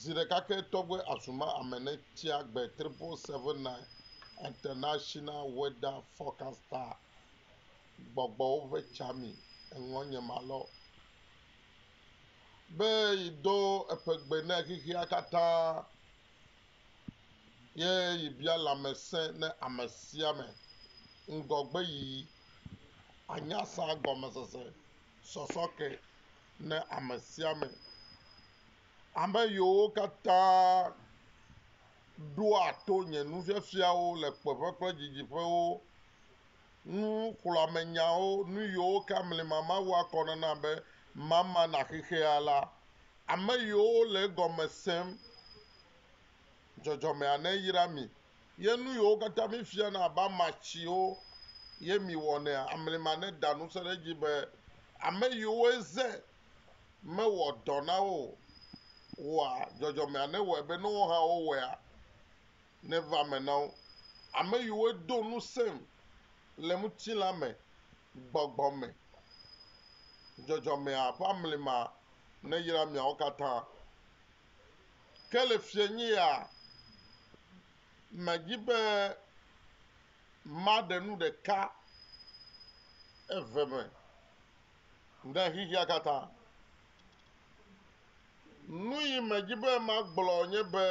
Ziɖeka ke tɔgbe azuma ame ne tsia gbe triple seven nine international weather forecaster gbɔgbɔwo ƒe tsa mi eŋɔ nye ma lɔ be yi do eƒe gbe ne xexea katã ye yi bia lamese ne ame sia ame ŋgɔgbe yiyi anya sa gɔmesese sɔsɔ ke ne ame sia ame, ame yiwo katã ɖoa to nye nufiafiawo le kpeƒe kple didiƒewo, nuxlɔ̃amenyawo, nu yiwo ke mlima mawu akɔ na nam be mama na xexea la, ame yiwo le egɔme sem, dzɔdzɔmea neyra mi Ye nu yiwo katã mifiana abe amatsiwo ye miwɔnɛa, amlima neda ŋusẽ ɖe edzi be ame yiwo eze mewɔ dɔ na wo o wɔa dzɔdzɔmea newɔe be ne woawo hã wowɔea, neva eme na wo. Ame yiwo do ŋusẽm le ŋutilã me, gbɔgbɔ me, dzɔdzɔmea ƒe amlima neyra miawo katã. Ke le fiẽnyea, medi be maɖe nu ɖeka eve me ɖe xexea katã. Nuyi medi be magblɔ nye be,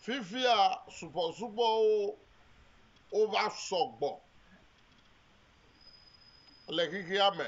fifia subɔsubɔwo wova sɔgbɔ le xexea me.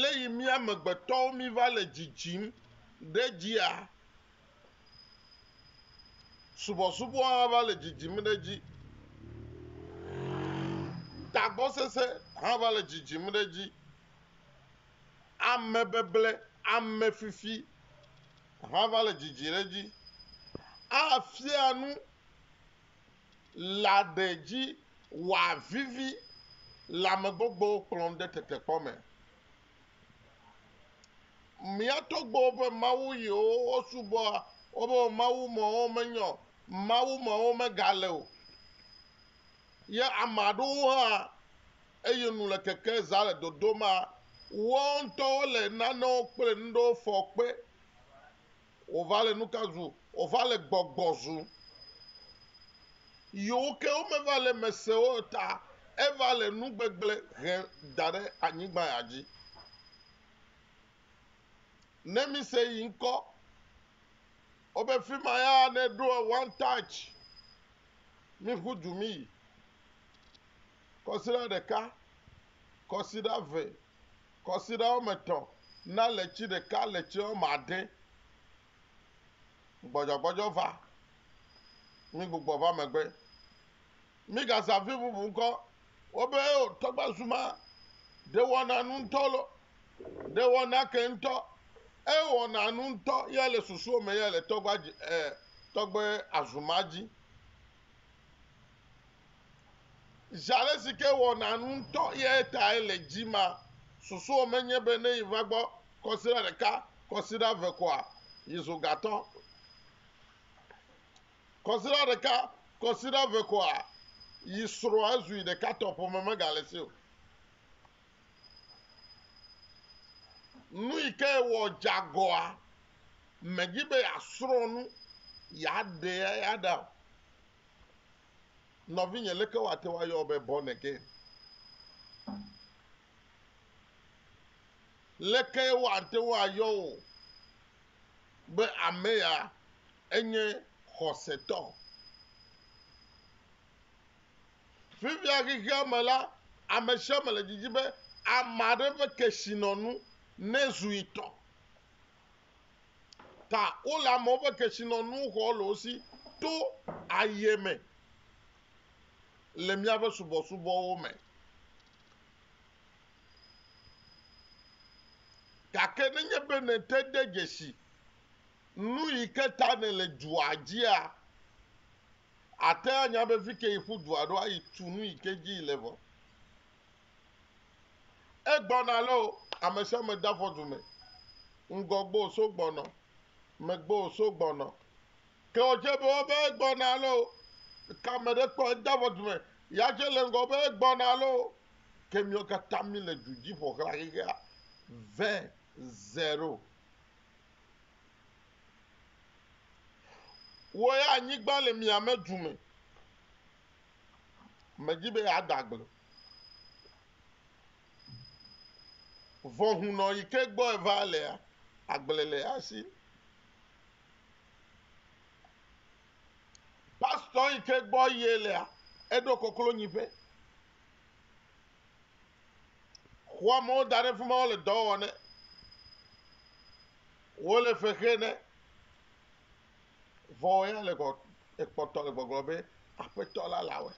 Lé yi mí amegbetɔwo mí va le dzidzim ɖe dzia? Subɔsubɔ hã va le dzidzim ɖe dzi. Tagbɔsese hã va le dzidzim ɖe dzi. Amebeble, amefifi hã va le dzidzi ɖe dzi. Afia nu la ɖe dzi wòavivi le amegbogbowo kplɔm ɖe tetekpɔ me. Mía tɔgbuiwo ƒe mawu yiwo wosubɔa woƒe mawu mawo menyɔ o, mawu mawo megale o. Ye ame aɖewo hã eye nu le keke zã le dodomea, woawo ŋutɔwo le nanewo kple nuɖewo fɔ kpe. Wova le nuka zu? Wova le gbɔgbɔ zu. Yewo ke womeva le me se o ta eva le nu gbegblẽ he da ɖe anyigba ya dzi. Ne mise yi ŋkɔ, wobe fi ma ya ne ɖo one touch, mi ƒu du mi yi. Kɔsiɖa ɖeka, kɔsiɖa ve. Kɔsiɖa woame etɔ̃ na letsi ɖeka, letsi woame ade gbɔdzɔgbɔdzɔ va mí gbugbɔ va megbe. Mígaza vi bubu ŋkɔ wo be o, tɔgba zuma ɖe wɔna nu ŋutɔ lo, ɖe wɔna ke ŋutɔ. Ewɔna nu ŋutɔ ya le susuwo me ya le tɔgba dzi, e, tɔgbe azuma dzi. Zi aɖe si ke wɔna nu ŋutɔ yae tae le dzima. Susua menye be ne yeva gbɔ kɔsiɖa ɖeka, kɔsiɖa eve koa, yezu gatɔ. Kɔsiɖa ɖeka, kɔsiɖa eve koa, yi srɔ̃a zui ɖeka tɔ ƒome megale si o. Nu yi ke wɔ dzeagɔa medzi be yeasrɔ̃ nu yeaɖe eya ɖa o. Nɔvinye, leke woate ŋu ayɔ wò be born again? Leke woate ŋu ayɔ wò be ame ya enye xɔsetɔ? Fifia xexea me la, ame sia ame le didi be ame aɖe ƒe kesinɔnu nezu yi tɔ. ta wole amewo ƒe kesinɔnu xɔ le wo si to aye me le míaƒe subɔsubɔwo me. Gake nenye be nète de dzesi nu yi ke ta nèle dua dzia, àte anya be fi ke yi ƒu dua ɖo ayi tu nu yi ke dzi le vɔ. Egbɔna lɔ o, amesiame de afɔ dume, ŋgɔ gbɔ o so gbɔnɔ, megbe o so gbɔnɔ. Ke o dze be wo be egbɔna lɔ o, ke ame ɖe kpɔ ede afɔ dume, ya dze le ŋgɔ be egbɔna lɔ o. Ke miwo kata mi le du dzi ƒoxla xexea. Vɛ zero. Wo ya anyigba le miame dume. Medi be yeada agble. Vɔ hunɔ yi ke gbɔ eva lea, agble le ya si. Pastɔ yi ke gbɔ ye lea, eɖo koklo nyiƒe. Xɔ amewo da ɖe fi ma wole dɔ wɔm ne. Wole fe xe ne. Vɔ wò ya le gbɔ, ekpɔtɔ le gbɔgblɔ be, Aƒetɔ la le awɛ.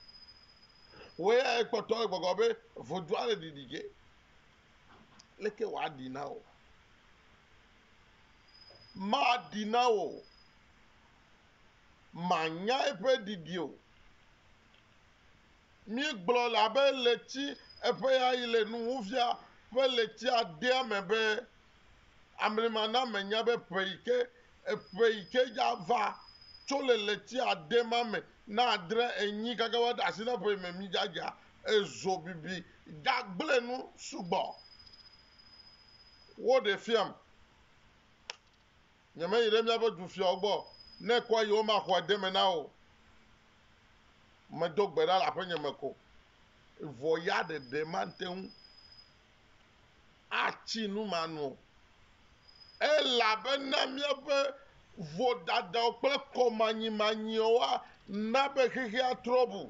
Wò ya ekpɔtɔ le gbɔgblɔ be, Vodua le ɖiɖi ge. Leke wòaɖi na wò? Maɖi na wò o. Mànya eƒe ɖiɖi o. Míegblɔ le abe ɣleti eƒe ɣeyiɣi le nuwuwuvia ƒe ɣletia dea me be, amlima na menya be ƒe yi ke ƒe yi ke dza va tso le ɣleti ade ma me na adre enyi kaka va ɖe asi na ƒe yi me mi dza dza ezo bibi dza gble nu sugbɔ wo ɖe fiam nyeme yi ɖe miaƒe du fiawo gbɔ ne kɔ yi wo ma xɔ ade me na wo medo gbe ɖa le aƒe nye me ko vɔ ya ɖeɖe ma te ŋu atsi nu manɔ o, elabena míaƒe vodadawo kple kɔmanyimanyiawo ana be xexea trɔ ʋu.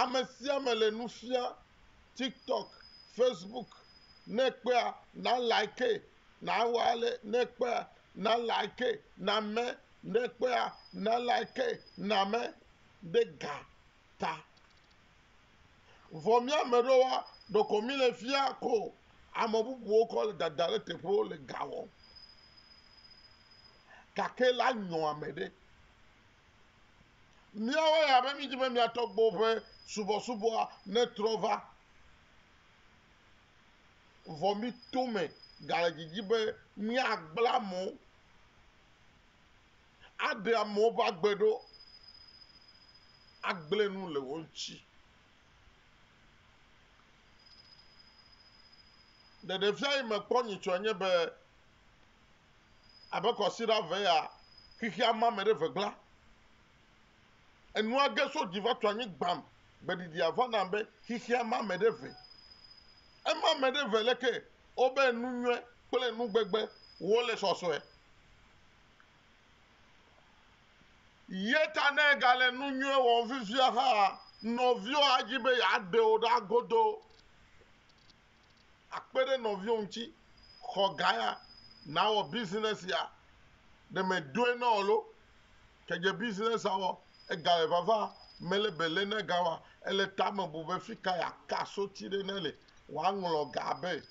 Ame sia ame le nu fiam tiktok, facebook, ne ekpea na like, na wɔ ale, ne ekpea na like, na me, ne ekpea na like, na me. ɖe ga ta. Vɔ mía me ɖewoa, ɖeko míle fia ko ame bubuwo kɔ le dada ɖe teƒewo le ga wɔm. Gake la nyɔ ame ɖe. Míawo ya be mídi be mía tɔgbuiwo ƒe subɔsubɔa netrɔ va. Vɔ mí tome gale didi be míagbla mɔ aɖe amewo ƒe agbe ɖo, agblẽ nu le wo ŋuti. Ɖeɖefia yi mekpɔ nyitsɔe nye be, abe kɔsiɖa eve ya, xexea ma me ɖe ʋegbla. Enua ge so dzi va tu anyi gbam. Gbeɖiɖia va nam be xexea ma me ɖe ʋe. Ema me ɖe ʋe leke? Wobe nu nyuie kple nugbegbe wo le sɔsɔe. Ye ta ne ègale nu nyui wɔm fifia hã, nɔviwò adi be yeaɖe wò ɖa godoo. Akpe ɖe nɔviwò ŋuti, xɔ ga ya, nawɔ business ya. Ɖe mèdoe na wò loo. Ke dze business a wɔ, egale vava, mele be le ne ga wa. Ele tame bu be fika yeaka soti ɖe ne le, wòaŋlɔ ga be.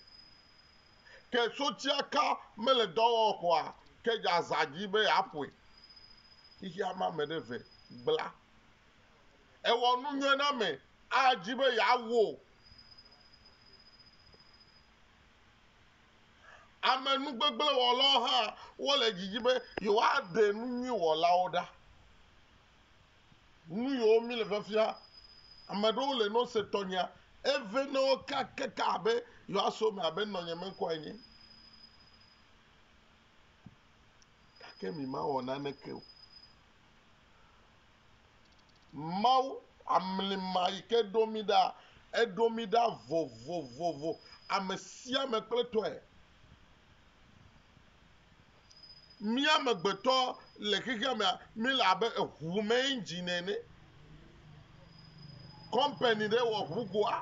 Ke sotsiaka mele dɔ wɔm kɔa, ke dze azã dzi be yeaƒoe. Xexea me ame ɖe ve gbla. Ewɔ nu nyuie na ame adi be yeawo. Ame nugbegblẽwɔlawo hã wole didi be yewoaɖe nu nyui wɔlawo ɖa. nu yiwo mi le fiafia ame ɖewo le no se tɔnyea eve ne wo ka keke abe yewo aso me abe nɔnye me ŋkɔ enye gake mi ma wɔ nane ke o mawu amlima yi ke ɖo mi ɖa eɖo mi ɖa vovovovo ame sia ame kple tɔe Mí amegbetɔ le xexea mea, míle abe eŋu me engine ene. Kɔmpani ɖe wɔ ŋugoa,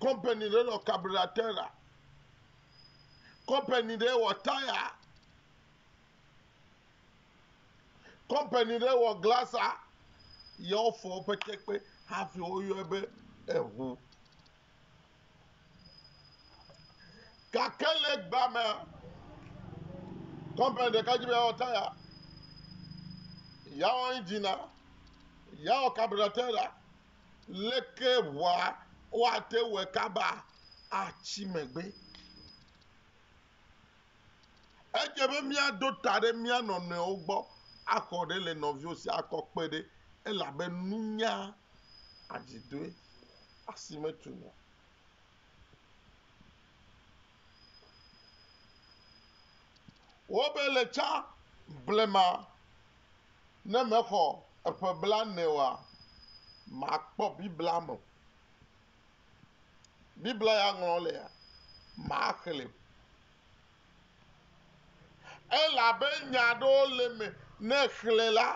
kɔmpani ɖe wɔ kabratera, kɔmpani ɖe wɔ taya, kɔmpani ɖe wɔ glasa, ye wofɔ woƒe tekpe hafi woyɔe be eŋu. Gake le egbea mea, kɔmpani ɖeka dzi be yeawɔ taya, yeawɔ indzina, yeawɔ kaburatera. Leke ʋua woate wɔe kaba atsi megbe? Edze be míaɖo ta ɖe mía nɔnɔewo gbɔ axɔ ɖe le nɔviwo si akɔ kpe ɖe elabe nunya adzidoe. Asi metu nu o. Wobe le tsã blema ne mexɔ eƒe blaene oa, makpɔ Biblia me. Biblia ya ŋlɔ lea, maxlẽe. Elabe nya aɖewo le eme ne èxlẽ la,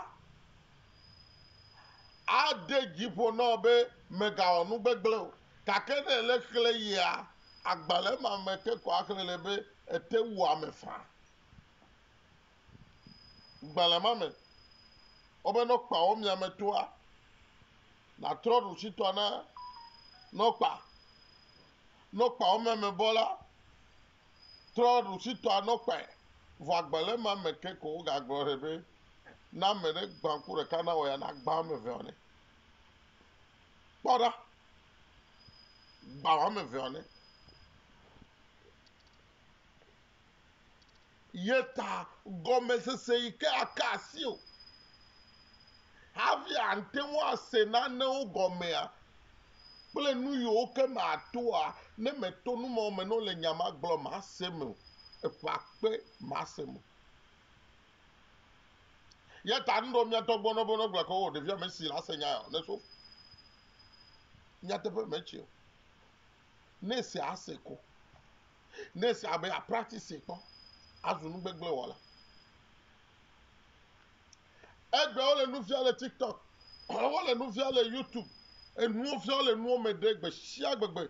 ade dzi ƒo na wò be mègawɔ nu gbegblẽ o. Gake ne èle exlẽ yia, agbalẽ ma me ke ko axlẽ le be ete wu ame faa. Gbalẽ ma me wobe nɔkpawo miame toa, nàtrɔ ɖusitɔa na nɔkpa. Nɔkpawo miame bɔ la, Trɔ ɖusitɔa nɔ kpae, vɔ agbe le ema me ke ko wogagblɔ ɖe be ne ame ɖe gbã ku ɖeka na wɔ ya nagbã ame eveawo nɛ. Kpɔ ɖa, gbã ame eveawo nɛ. Ye ta gɔmesese yi ke aka asi o. Hafi ate ŋu ase nanewo gɔmea, kple nu yiwo ke me atoa, ne meto nu mawo me ne wole nya ma gblɔm mase me o. Eƒe akpe mase me o. Ya ta nu ɖewo míatɔ gbɔnɔ be ne gblɔ ke o ɖevia mesi la se nya ya o, ne so nyateƒe me tse o. Ne se ase ko. Ne se abe a practice kpɔ azu nugbegble wɔla. Egbea wole nu fia le TikTok, wole nu fia le YouTube, enuwo fia wole nuwo me ɖe gbe sia gbe gbe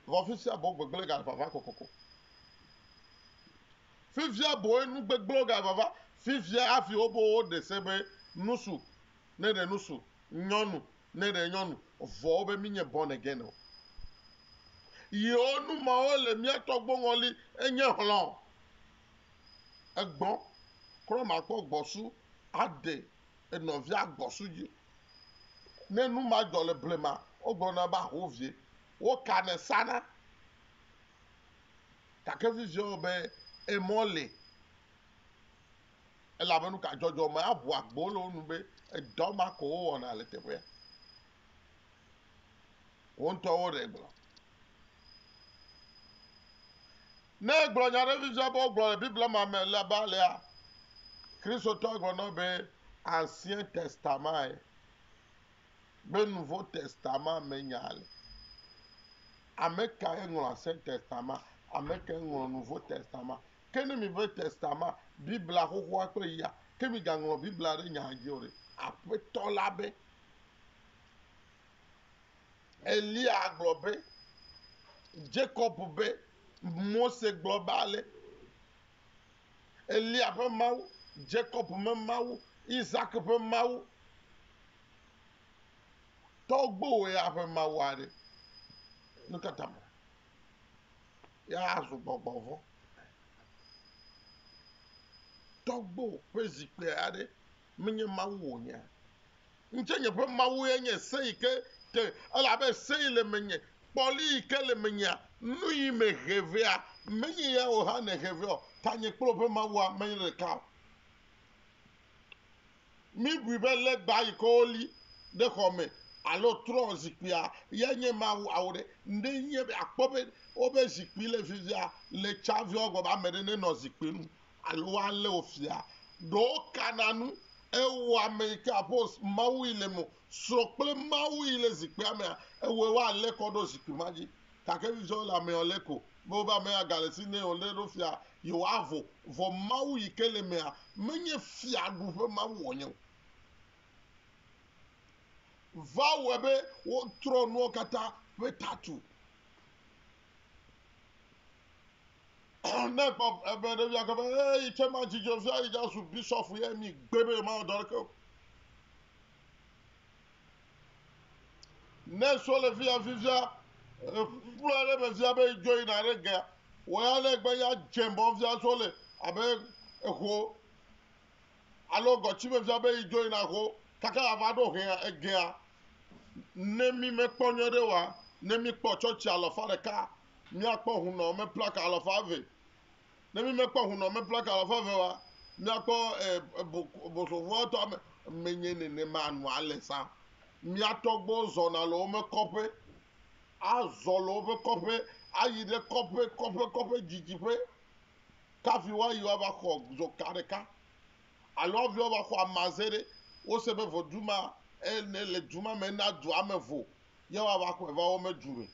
vɔ fifia boŋ gbegblẽ ga vava kokoko. Fifia boe nu gbegblẽwo ga vava fifia hafi wobo woɖe se be nusu ne ɖe nusu, nyɔnu ne ɖe nyɔnu vɔ wobe minye born again o. Yewo nu mawo le mía tɔgboŋɔli enye hlɔ̃ egbɔ kura makpɔ gbɔsu aɖe enɔvia gbɔsu dzi. Ne nu ma dzɔ le blema, wogblɔna be aho vie. Wokanɛ sana. Gake vivie wɔ be emɔ li elabe nu ka dzɔdzɔ me aʋu agbo le wo nu be edɔ ma ko wowɔna le teƒea. Wo ŋutɔwo ɖe gblɔ. Ne egblɔ nya aɖe fifia be wogblɔ le Biblia ma me la be alea, Kristotɔa gblɔ na wo be Ancien Testament be Nouveau Testament me nya le. Ame kae ŋlɔ Ancien Testament? Ame kae ŋlɔ Nouveau Testament? Ke ne mi be Testament, Biblia xoxoa kple ya, ke migaŋlɔ Biblia ɖe nyaa dzi o ɖe? Aƒetɔ la be. Eliya gblɔ be, Jakob be, Mose gblɔ be ale, Eliya ƒe Mawu, Jakob me Mawu, Isak ƒe Mawu, tɔgbowò ya ƒe Mawu aɖe. Nu ka ta me? Ya azu gbɔgbɔ vɔ̃. Tɔgbowò ƒe zikpui aɖe menye Mawu wònye. Ŋutse nye ƒe Mawu ye nye se yi ke te, elabe se yi le menye, kpɔli yi ke le menyea, nu yi me he vea, menye ya wò hã nèhe vea o, ta nye kple woƒe Mawua menye ɖeka o. Mibui be legba yi ke woli ɖe xɔ me alo trɔ̃ zikpuia yae nye Mawu awo ɖe? Ɖe nye be akpɔ be woƒe zikpui le fifia le tsa vea gbɔ be ame ɖe nenɔ zikpui nu Alo ale wofia ɖo kana nu ewɔ ame yi ke apos Mawu yi le mo srɔ̃ kple Mawu yi le zikpuia mea ewɔe wa ale kɔ ɖo zikpui ma dzi. Gake vidzɔ le amea le ko be wobe amea gale si ne wòɖe ɖo fia yewoa vo, vɔ Mawu yi ke le mea menye fiaɖu ƒe Mawu wònye o. Va wɔe be wotrɔ nuawo katã ƒe tatu. ne ekpɔ ebe ɖevia ke be ee yi tse ma dzidzɔ fia yi dza su bisɔfu yɛ mi gbe be ma dɔ ɖeke o ne so le fia fifia kpla ɖe me fia be dzo yina ɖe gea wɔ ya ne gbe ya dze bɔ fia so le abe eho alo gɔtsiveviea be yi dzo yina ho kaka yava ɖo hea egea, ne mi me kpɔ nyuie ɖe wa, ne mi kpɔ tsɔtsi alɔfa ɖeka, mia kpɔ hunɔ me plaka alɔfa eve. Ne mi me kpɔ hunɔ me plaka alɔfa eve wa, mia kpɔ bosovoa tɔ me, me nye nene ma nu ale sa. Mia tɔgbo zɔna le wo me kɔƒe, a zɔ le wo ƒe kɔƒe, a yi ɖe kɔƒe, kɔƒe, kɔƒe, dzidziƒe, Ka viwòa yi woava xɔ zoka ɖeka? Alo wo viwòa va xɔ amaze ɖe? Wose be vodu ma ene le du ma me na dua me vo, ye woava xɔe va wo me du me,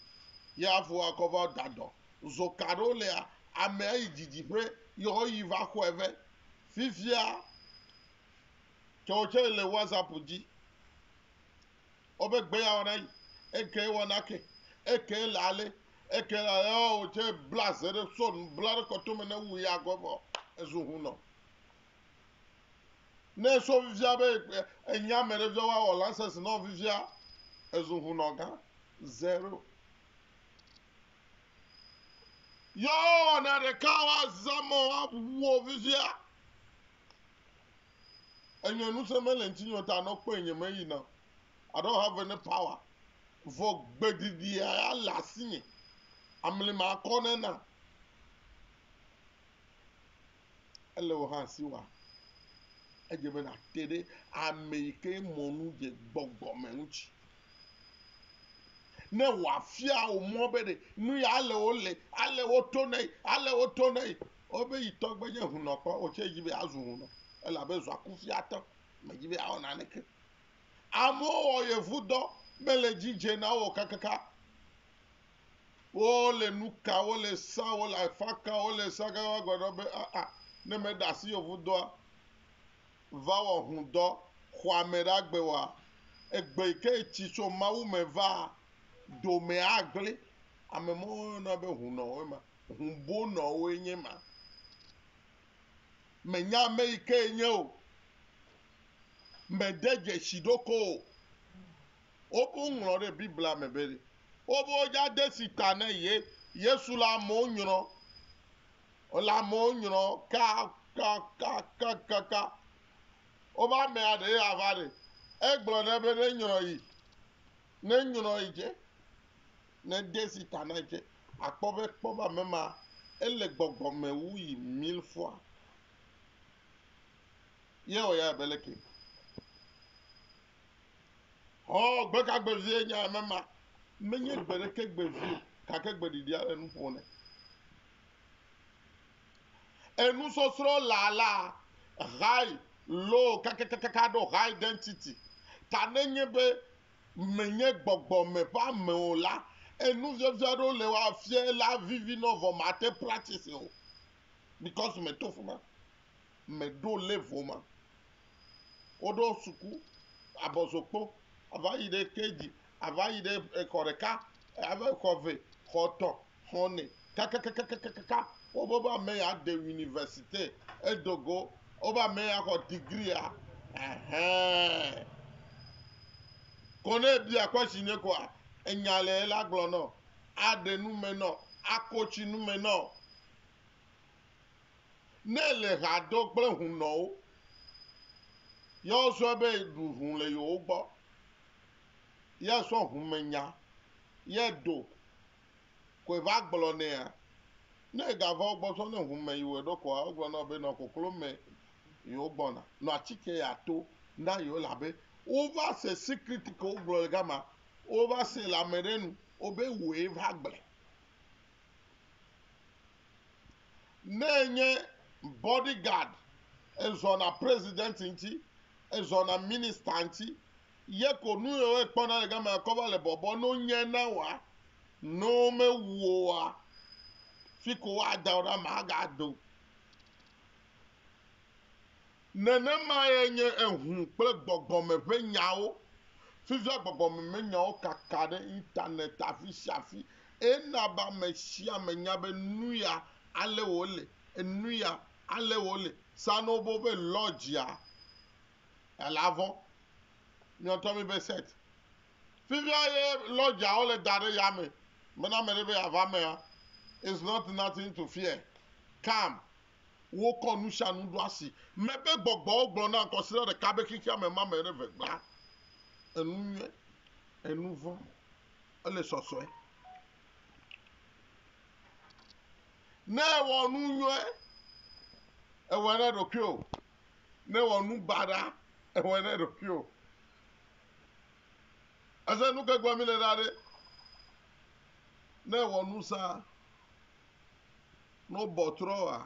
ye hafi woakɔ va da dɔ. Zoka aɖewo lea, amea yi didiƒe ye woyi va xɔe vɛ. Fifia, tɔwò tsɛ le WhatsApp dzi. Wobe gbe ya wɔna yi, eke wɔna ke, eke le ale, eke le ale, ɔ wòtse bla ze ɖe so nu bla ɖe kɔtome ne wu ya gɔ vɔ ezu ŋu nɔ. Ne eso vivia be enya me ɖe via woawɔ lansɛs nɔ vivia ezu ŋu nɔ gã zero. Yɔ wɔna ɖeka woazamɔ awu wo vivia. enyɔ nuse mele ŋtinyɔ ta nɔ kpɔɛ nye me yina I don't have any power vɔ gbedidie ya le asinye amli ma kɔ ne na ele o hã si wa edze be na te ɖe ame yi ke mɔnu dze gbɔgbɔ me ŋuti ne wòafia wò mɔ be ɖe nu ya ale wole ale woto nɛ ale woto nɛ Ewɔ be yi tɔ gbe nye hunɔ kpɔ o, tse yi be azu hunɔ elabe zua kufia tɔ me dzi be awɔ naneke. Amewo wɔ yevu dɔ mele dzi dze na wo kakaka. Wo le nu ka, wo le sa, wo le afa ka, wo le sa kaka gbe ɖɔ be aa ne me ɖe asi yevu dɔa va wɔ hun dɔ xɔa me ɖa gbe wɔa, egbe yi ke etsi so Mawu me vaa, dome agble. Ame mɔwo yɔna be hunɔ woe ma. Hũbonɔwoe nye ma. Mènya ame yi kee nye o. Mède dzesi ɖokɔ o. Woƒo ŋlɔ ɖe Biblia me be wobe wodza de si ta ne Yesu le amewo nyrɔ, le amewo nyrɔ kakakakaka. Wobe amea ɖee ava ɖe. Egblɔ nɛ be nenyrɔ yi. Ne enyrɔ yi dze, ne ede zi ta na yi dze, àkpɔ be kpɔbame ma, ele gbɔgbɔ me wu yi milfoa. Ye wɔ ya be leke? Ɔ, gbe ka gbe vie nye ame ma? Menye gbe ɖeke gbe vie o, gake gbe ɖiɖi ale nu ƒo nɛ. Enusɔsrɔ̃ laa laa high low kakakakaka ɖo high density ta nenye be menye gbɔgbɔ me ƒe ame o la, enufiafia aɖewo le wa fie la vivi nɔ vɔ mate practice o because me to fima, me ɖo level ma. Wo ɖo suku, abɔzokpo, ava yi ɖe KG, ava yi ɖe exɔ ɖeka, ava yi xɔ ve, xɔ tɔ, xɔnɛ kakakakakaka wobe be ame ya de university edo go wobe ame ya xɔ degree ya ɛhɛn ko ne ebia kwasi ne koa enya le ye la gblɔ nɔ aɖe nu me nɔ ako tsi nu me nɔ ne le ha do kple hunɔwo ya wosɔe be ɖu hun le yewo gbɔ ya sɔ hun me nya ya do koe va gblɔ nɛa? Ne egava wo gbɔ zɔ ne ŋu me yi wɔe ɖo koa, wogblɔ na wò be nɔ koklo me yi wogbɔna, nɔ atike ya to na yewo elabe wova se secret ke wogblɔ le gama, wova se le ame ɖe nu wobe wòe va gblɔe. Ne enye body guard, ezɔna president ŋuti, ezɔna minister ŋuti, Ye ko nu yio ekpɔ na le gamea kɔ va le bɔbɔ no nye na woa? No me wu wo woa, fi ko woa da wo ɖa ma ga do. Nene ma ye nye eŋu kple gbɔgbɔ me ƒe nyawo. Fifia gbɔgbɔ me me nyawo kaka ɖe internet afi sia afi eye na be ame sia ame nya be nuya ale wo le, enuya ale wo le. Sanobo ƒe lodge a ele avɔ nyɔtɔ mi be set. Fifia ye lodger wo le da ɖe ya me be na meɖe be ya va mea is not nothing to fear come. Wo kɔ nu sia nu ɖo asi me be gbɔgbɔwo gblɔ na kɔsiɖa ɖeka be xexea me ma me ɖe ve gbã enu nyuie enu vɔ̃ ele sɔsɔe. Ne ewɔ nu nyuie ewɔ ne ɖokuio. nèwɔ nu baɖa ewɔe na ɖokuiwò. Ese nu ke gblɔm míle ɖa ɖe? Ne èwɔ nu sa, ne wobɔ trɔ wòa,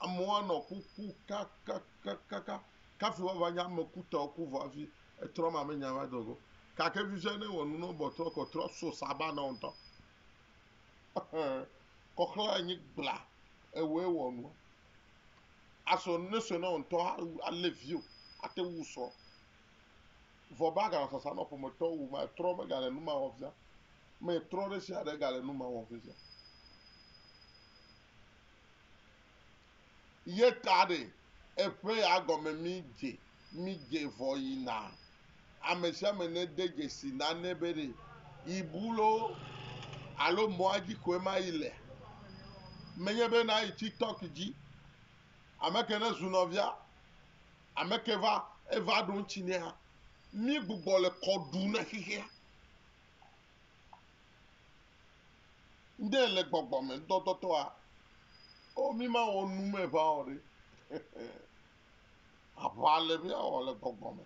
amewo anɔ kuku kakakakaka kafi woava nye ame kutɔwo ku vɔ hafi etrɔ ma menye ava do go. Gake fifia ne ewɔ nu ne wobɔ trɔ ko trɔ so saba na wò ŋutɔ. Kɔxlẽ anyi gbla ewɔe wɔ nua. Asɔ ne sɔe na wò ŋutɔ alé viwo ate ŋu sɔ. Vɔ be aganɔ sasa nɔ ƒometɔwo wu ma etrɔ megale nu ma wɔ fia. Me etrɔ ɖe sia ɖe gale nu ma wɔ fifia. Ye ta ɖe eƒe ya gɔme mi dze mi dze vɔ yina Ame sia ame nede dzesi nane be ɖe yibu loo alo mɔa dzi koe ma yi lea. Menye be nayi TikTok dzi. Ame ke ne zu nɔvia, ame ke va eva ɖo ŋuti nɛa, mí gbugbɔ le kɔ ɖu na xexea. Ŋɖe le gbɔgbɔme ŋdɔdɔtɔa, o mí ma wɔ nu me ŋa o ɖe. Aʋa le míawɔ le gbɔgbɔ me.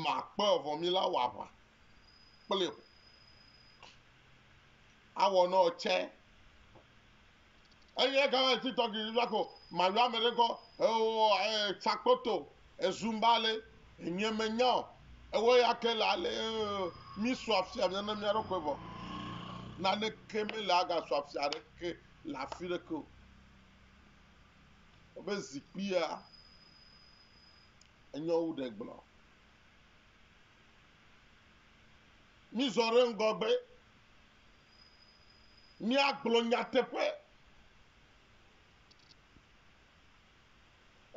Makpe vɔ mí la wɔ aʋa kple o. Awɔ nɔ ɔ cɛ. Eyi eka wɔ eti tɔgbi yɔ ko mayɔ ame ɖe kɔ ewɔ e tsakpoto ezumba le enye me nya o. Ewɔ ya ke le ale mí sɔ afia mía na mía ɖokui vɔ. Naneke me le aga sɔ afia ɖeke le afi ɖeke o. Wobe zikpuia enye wu ɖe gblɔ. Mízɔ ɖe ŋgɔgbe. Míagblɔ nyateƒe.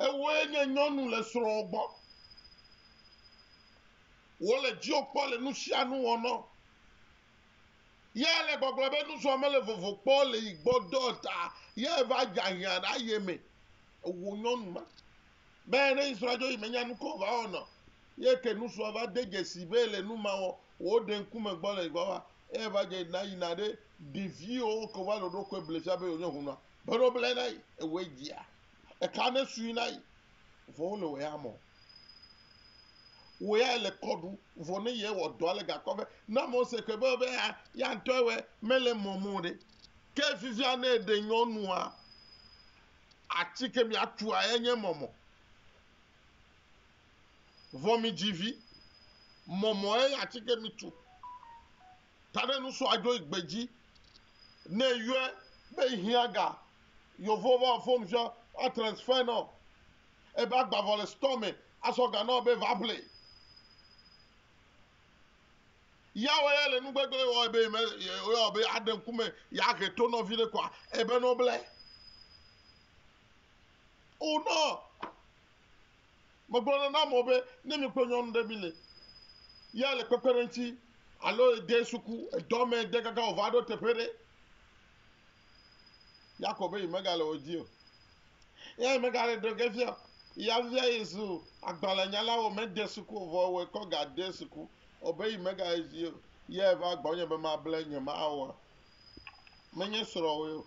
Ewoe nye nyɔnu le srɔ̃ gbɔ. Wole dziwò kpɔ le nusianu wɔnɔ. Yea le gbɔgblɔ be nusrɔ̃ mele vovo kpɔ le yi gbɔ dɔ ta yea va dze ahiã ɖe aye me. Ewo nyɔnu ma be ne yi srɔ̃a dzo yi menya nu ka wòva wɔna o. Ye ke nusrɔ̃a va de dzesi be le nu ma wɔ wò ɖe ŋkume gbɔ le yi gbɔ va eya va dze na yina ɖe ɖeviwo ke wova le ɖoɖokoe blefia be yewonye hunɔa be ɖo ble na yi ewoe dzia Eka ne sui na yi vɔ wole wɔ ya mɔ. Wɔ ya le kɔ ɖu vɔ ne yɛ wɔ dɔ ale gakpɔ be na mɔ se ke be be ya ya ŋtɔ ewɛ mele mɔ mɔ ɖe. Ke fifia ne eɖe nyɔnua atsi ke mi atua ya nye mɔmɔ. Vɔ mi dzi vi mɔmɔ ye atsi ke mi tu. taɖenusɔ adzoe gbedzi ne yɔe be hiã ga yovo va wò fon sɔ va transfer nɔ ebe agbavɔ le store me asɔ ga nɔ be va ƒle. Yahweh ya le nugbegble wɔ ebe me yɔ be aɖe ŋkume ya he to nɔvi ɖe kɔa ebe nɔ ble. O nɔ. Megblɔ nɛ na amewo be, ne mi kple nyɔnu ɖe mi le ya le kpekpeɖeŋti alo ede suku edɔ me de kaka wòva ɖo teƒe ɖe, Yakob be yemegale wo dzi o. Eya yemegale ɖo ge fia o. Ya fifia yezu agbalẽnyala wɔ mede suku o vɔ wɔe kɔ gade suku o be yemegale dzi o. Ya eva gbɔnye be mable nyemawɔ. Menye srɔ̃wòe o.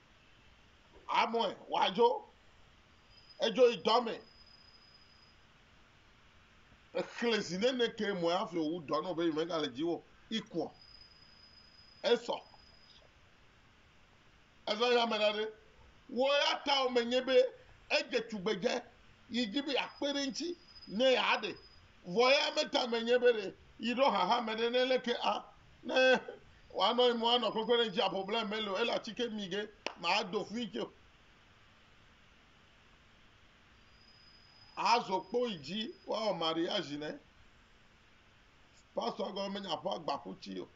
Amɔe wòadzo. Edzo yi dɔ me. Exlẽ zi nene ke mɔe hafi wòwu dɔ nɔ be yi megale dziwò ikuɔ. Esɔ. Ezɔ yi ame ɖa ɖe. Wo ya ta wò menye be edze tugbedze yi dzi be yeakpe ɖe eŋuti ne yeaɖe. Vɔ eya meta menye be ɖe yi ɖo hahame ɖe ne leke a. ne wa nɔ mo anɔ kpekpe ne dzi apo ble melo ela tike mi ge ma do fui tso azo kpo idzi wa o mari azi ne pastor go me nya po agba kuti o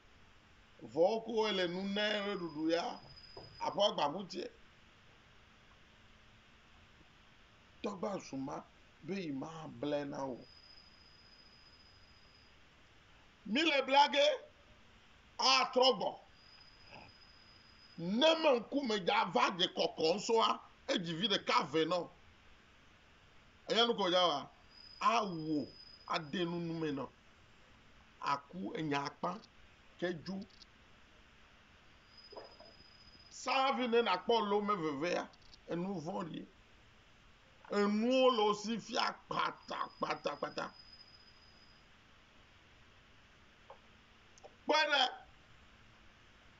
vo ko ele nu ne re dudu ya apo agba kuti togba suma be ma ble na o Míle bla ge atrɔ gbɔ ne me ŋkume dza va dze kɔkɔ ŋsɔa edzi vi ɖeka vɛ nɔ. Enya nuko dza wa awo ade nu nu me nɔ aku enya akpa ke djo. Savi ne nakpɔ lome vevea enu vɔ̃ɖi. Enuwo le wo si fia kpatakpatakpata. Kpɔe ɖe,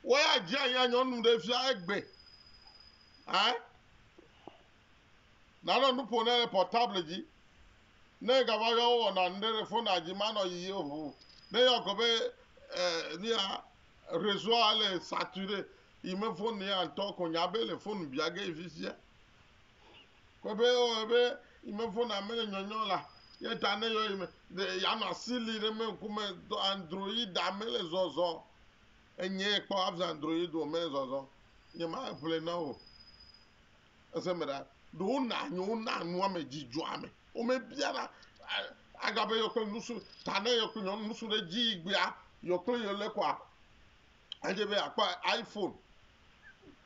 woya dzi anyi anyɔnu ɖe fia egbe. Ɛ? Nanɔ nu ƒo ne le portable dzi. Ne gava yɔ wowɔna nu ɖe ɖe fonua dzi manɔ yiyi o ʋu. Ne yɔ ko be ɛ nuya reseau le saturé yi me fone ya ŋutɔ ko nya be le fone bia ge yi fifia. Kpɔɖe o ebe yi me fona ame le nyɔnyɔ la, ye ta ne yɔ yi me de ya nɔ asi li ɖe me ŋkume do android da me le zɔzɔ. Enye kpɔ afza android o me zɔzɔ. Nye ma ƒle na o. Ese me ɖa. Do na nyo na nua me dzidzɔ ame. O me bia na aga be yɔ kple nusu ta ne yɔ kple nyɔnu nusu ɖe dzi gbea yɔ kple yɔ le kwa. Adze be akpa iPhone.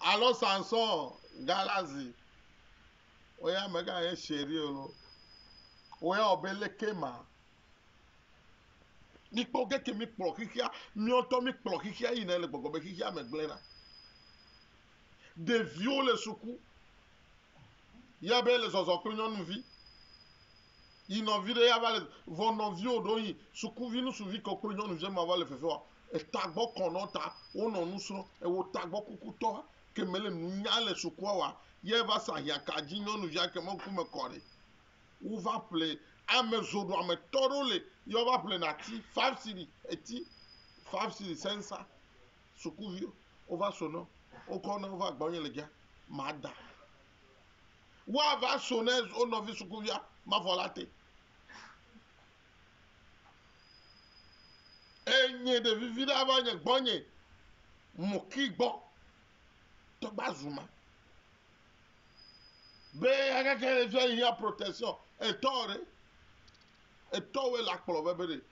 Alo Samson Galazi, wo ya mega ye chéri o lo. Wo ya wɔ be leke ma. Mi kpɔ geke mi kplɔ xixia, mi ŋutɔ mi kplɔ xixia yi ne le gbɔgbɔ be xixia me gblẽ na. Ɖeviwo le suku. Ya be le zɔzɔ kple nyɔnuvi. Yi nɔvi ɖe ya va le vɔ nɔviwo ɖo yi sukuvi nusuvi kɔ kple nyɔnuvia ma va le fefe wa etagbɔ kɔ nɔ ta wo nɔ nu srɔ ewo tagbɔ kuku tɔ ke me le nu nya le sukua wa yɛ va sa hia ka dzi nyɔnuvia ke mɔ ku me kɔ ɖe wo va ƒle ame zo ɖo ame tɔ ɖo le yɔ va ƒle na ti five siri eti five siri sensa sukuvi wo va so nɔ wo kɔ nɔ wo va gbɔ nye le gya ma da. Woava so ne wo nɔvi sukuvia mavɔ la te. Enye ɖevivi ɖe ava nye gbɔnye mɔki gbɔ tɔgba zuma. Be agake ɖe fia yi ya protection etɔ ɖe etɔ wo la kplɔ be be ɖe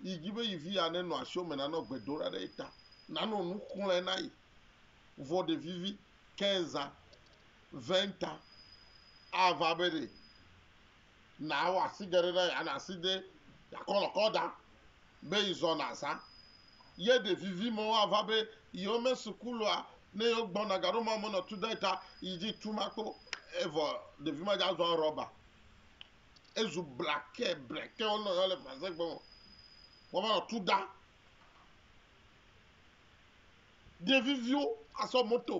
yi dzi be yi vi ya ne nɔ asio me nanɔ gbedoɖa ɖe ta nanɔ nu xlɔe na yi vɔ ɖevivi. Kenza, Venta, ava be ɖe nàwɔ asigɛɖe na ya na asi de yakɔlɔkɔ da be yizɔ naza. Ye ɖe vivi mɔ woava be yewo me suku loa ne yewo gbɔ na gaɖo mɔ menɔ tu dɔɛ ta yi dzi tu ma kpo evɔ ɖevi ma dza zɔa rɔba. Ezu blakɛ blɛkɛ wo nɔ yɔ le Fransɛ gbe mɔ wova nɔ tu da. ɖeviviwo asɔ moto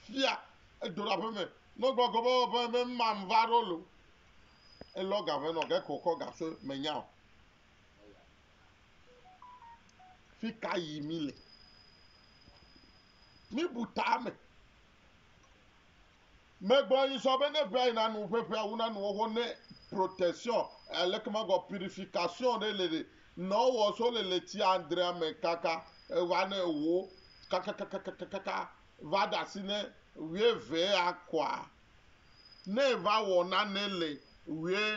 fia edo la ƒeme no gbo gobo be me mam va ro lo e lo ga ve no ge ko ko ga se me nya o fi ka yi mi le mi bu ta me Megblɔ yi sɔ be ne ŋea yi nanu ƒe ƒea wu nanu xoxo ne protection alekemagɔ purification ɖe le ɖe nɔ wɔ so le le tsi andrea me kaka va ne wo kakakakakakaka va ɖe asi ne ŋea ve ya kɔa ne va wɔ nane le ŋea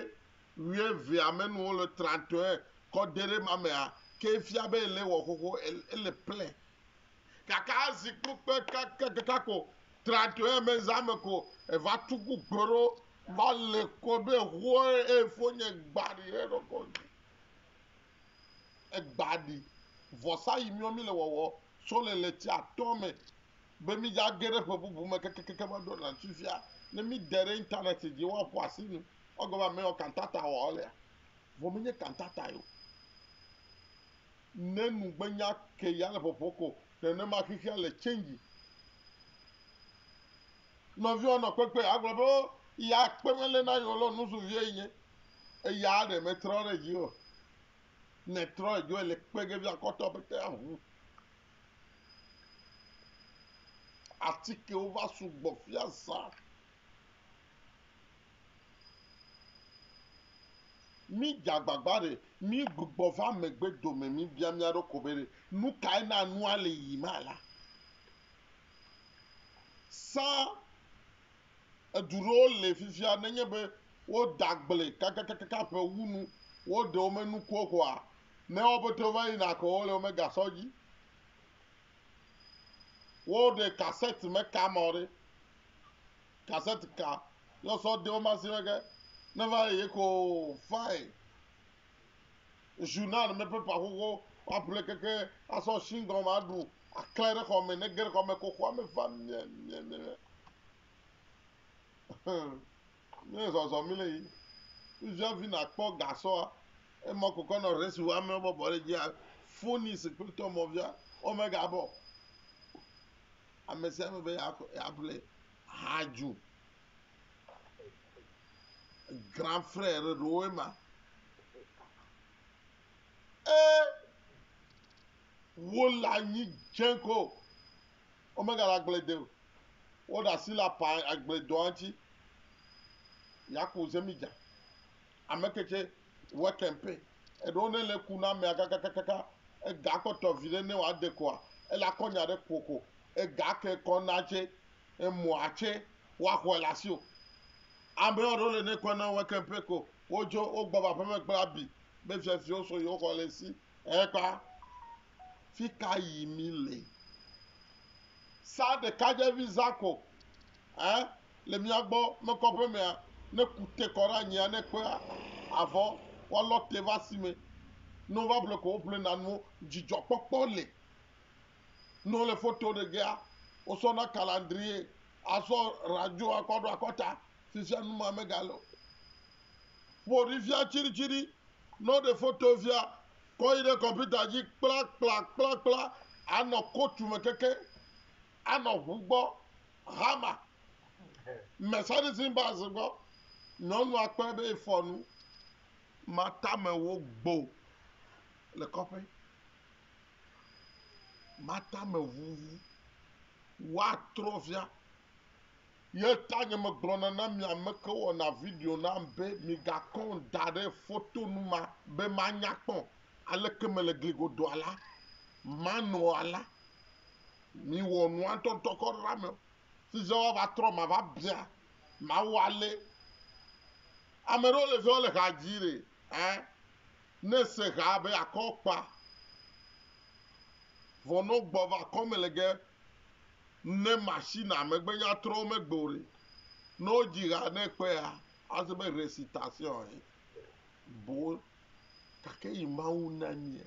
ŋea vea me nu wole trantɔe kɔ de ɖe ma mea ke fia be ele wɔ xoxo ele ple Gake azi kpukpe kakakaka ko tra to eme zã me ko eva tu kpukpe ɖo va le kɔ ɖo eho efo nye gba ɖi ɖe ɖɔkɔ dzi. Egba ɖi vɔsa yi miɔ mi le wɔwɔ so le le tsi atɔ me be mi dza ge ɖe ƒe bubu me kakakaka va ɖo na sufia ne mi de ɖe internet dzi wa ƒo asi nu wa gɔme ame yɔ kantata wɔ lea vɔ mi nye kantata yo. ne nugbenya ke ya le ƒɔƒɔ kɔ nenema xexea le change. Nɔviwo nɔ kpekpe agblɔ be o ya kpe mele na yewo lɔ nusuvie yi nye eya ɖe me trɔ ɖe dzi o. Ne trɔ edzo ele kpe ge via kɔtɔ be te aʋu. Atikewo va sugbɔ fiazã. Mídze agbagba ɖe míegbugbɔ va megbe dome míbia mía ɖokui be ɖe nu kae na nua le yiyim alea. Sa edu ɖewo le fifia nenye be woda agble kakakaka ƒe wu nu wo ɖewo me nuku o koa ne wo pɛtɛ wova yina ko wole wome ga sɔ dzi. Wo ɖe kasɛt me ka mɔ ɖe Cassette ka ne osɔ de woma si mege ne va eye ko fae journal me paper xoxo aple keke asɔ shingɔn ma ɖu aklɛ ɖe xɔ me ne ge ɖe xɔ me ko xɔa me va mie mie mie mie zɔzɔ mi le yi nuvia vi na kpɔ gasɔa emɔ kokɔ nɔ resi wa me bɔbɔ ɖe dzia foni si kple tɔmɔvia omega bɔ ame sia ame be yeaƒle ha dzo. Grand frère ɖewoe ma. Ee, wole anyi dze ko. Womegale agble de o. Woɖe asi le apa agbledɔa ŋuti. Yaku zemidza. Ameke tsɛ wa kɛmpɛ. Eɖewo ne le ku na amea kakakakaka, ega kpɔtɔ viɖe ne wa de kɔa, ele akɔ nya ɖe kpɔ ko. Ega ke kɔ na tsɛ, emɔa tsɛ wa xɔɛ le asi o. Amewo ɖewo le ne kɔ na wa kɛmpɛ ko, wo dzo wo gbɔ va aƒeme kple abi be fiafiwo so yewo xɔ le ŋsi. Ekpa. Fika yi mi le? Sa ɖekadzevi zã ko. Ẽ, le mía gbɔ mekɔ ƒe mea, ne ku te kɔ ɖe anyia, ne kpea avɔ woalɔ te va si me. Ne wova ƒle ko woƒlena nuwo. Dzidzɔkpɔkpɔ le. Ne wole foto ɖe gea, wosɔna kalandrie asɔ radio akɔ ɖo akɔta. Fifia nu ma megale o. Ƒo ɖi fia tsiɖitsiɖi. Ne woɖe foto fia, kɔ yi ɖe kɔmpita dzi kplakplakplakpla anɔ kotu me kekeŋ. Anɔ ʋu gbɔ, hama, me sadising bars gbɔ, nyɔnua kpɔe be efɔ nu, ma tame wo gbo le kɔƒe, ma tame ʋuʋu, wa trɔ via, ye ta nye me gblɔ na na mi ameke wɔ na video nam be mi ga kɔn da ɖe foto nu ma be ma nya kpɔ aleke me le gli godoa la, ma nɔa la. Miwɔ nua tɔtɔ kɔ ɖe ame si zã woava trɔ ma va bia Mawu alé. Ame ɖewo le zã wole ha dzi ɖe ɛ ne se ha be akɔ kpa vɔ nɔ gbɔ va kɔ me le ge ne machine a megbe nya trɔ wo megbe o ɖe nɔ dzi ha ne kpe a ase be recitation e bo gake yi Mawu na mia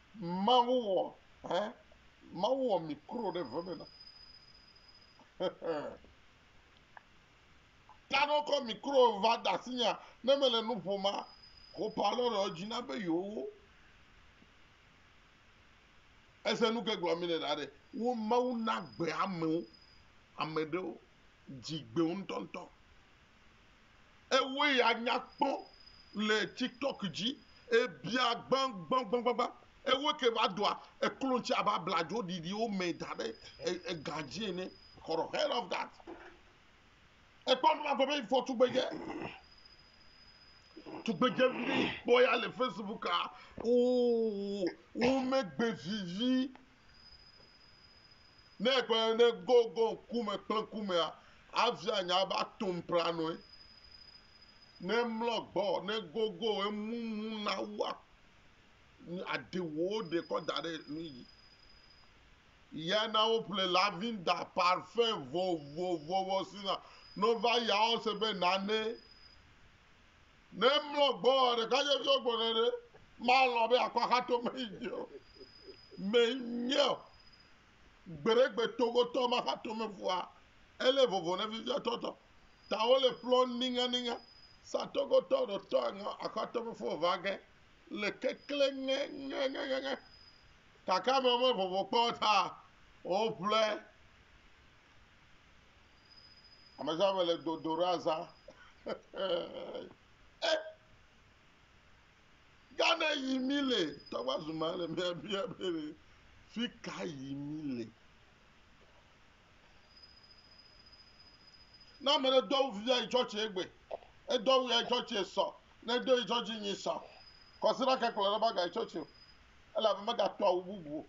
Mawu wɔ hɛ. Mawu wɔ mi kro ɖe ve me na. Kano kɔ mi kro va da si nya ne me le nu ƒo ma ko pa lɔ ɖe dzi na be yo wo. Ese nu ke gblɔ mi le ɖa ɖe. Wo Mawu na gbe amewo. Ame ɖewo dzigbeo ŋutɔŋutɔ. Ewoe ya nya kpɔ le tiktok dzi ebia gbãgbãgbãgbã. Ewoe ke va doa eklo ŋuti abe abladzo ɖiɖiwo mɛ da ɖe ega dzi ene. For the hell of that. Ekpɔ nu ma gblɔ be for tugbedze. Tugbedze vi ɖe kpɔ ya le Facebook a. Oo, womegbe vivi Ne ekpe ne Gogon ku me kple kumea, avia nya be atom planoe. Ne mlɔ gbɔ, ne gogo emumu na wua, aɖe wo ɖe kɔ da ɖe nu yi. Ya na woƒle lavinda, parfɛn vovovowo si na. Ne wova ya, wose be nane Ne mlɔ gbɔa ɖekadzeviwo gbɔna ɖe, malɔ̃ be akɔ axatome yi dzi o. Menye o. Gbeɖegbe togotɔ ma xatome fua, ele vovo ne viviatɔ tɔ. Ta wole ƒlɔ niŋaniŋa. Sa togotɔ ɖo tɔ aŋɔ axatome fua va ge le kekle ŋe ŋeŋeŋe. Kaka me me vovo kpɔ ta woƒlɔe. Amezã me le dodo ɖe azã. Eh! Gane yi mi le tɔgba zuma le mia bia be le fi ka yi mi le. Na me ɖe dɔw via yi tsɔtsi egbe. Edɔw ya yi tsɔtsi esɔ. Ne do yi tsɔtsi nyi sɔ. Kɔsira ke kplɔ ɖe ba ga yi tsɔtsi o. Ela be mega to awu bubu o.